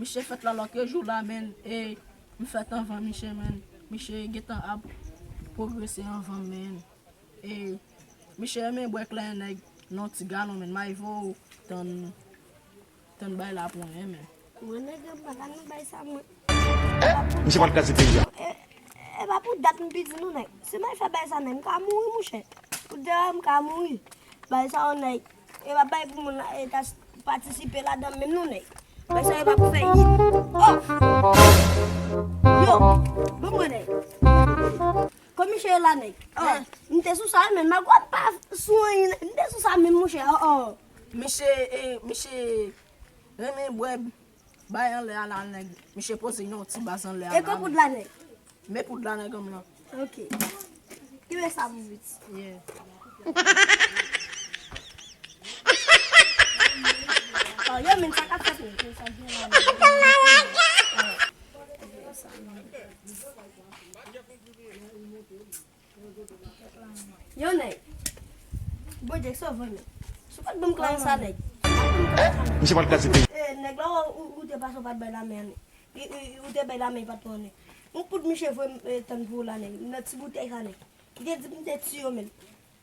Miche fèt la lòke jou la menn e m fèt anvan Miche menn. Miche gentan ap pwogrese anvan m menn e Miche renmen bwè klè nèg nan ti galon menn. Mayvo tann bay la pou mwen menn. Mwen nèg anba la nan bay sa mwen. Miche pral kraze peyi a. E pa pou dat m pi di nou nèg. Si Mayfe bay sa nèg m ka mouri mouche. Pou dera m ka mouri. Bay sa yon nèg. Yo pa bay pou moun la e ta patisipe ladan menm non nèg. Wè sa yo pa pou fè hit. Oh! Yo, bon mwen nèg. Komiche yo la nèg. Oh! M te sou sa yo menm magwa m pa sou anyen nèg. M te sou sa menm mouche oh oh. Misye, misye renmen bwè Bay anlè a la nèg. Misye poze yon ti baz anlè a la. E ko poud la nèg. Met poud la nèganm lan. Ok. Kenbe sa pou vit. Yeah. Yo menn sa kap fèt menn. Yo sa menn. Yon nèg. Bon Dieu sove w nèg. Si w pat banm klas sa nèg. Misye pral kraze peyi. Nèg la ou te pase ou pat bay lame a nèg. Ou te bay lame e pat pran nèg. Yon poud misye voye m tann pou w la nèg. Nan ti boutèy sa nèg. Li te di m te tiye w men.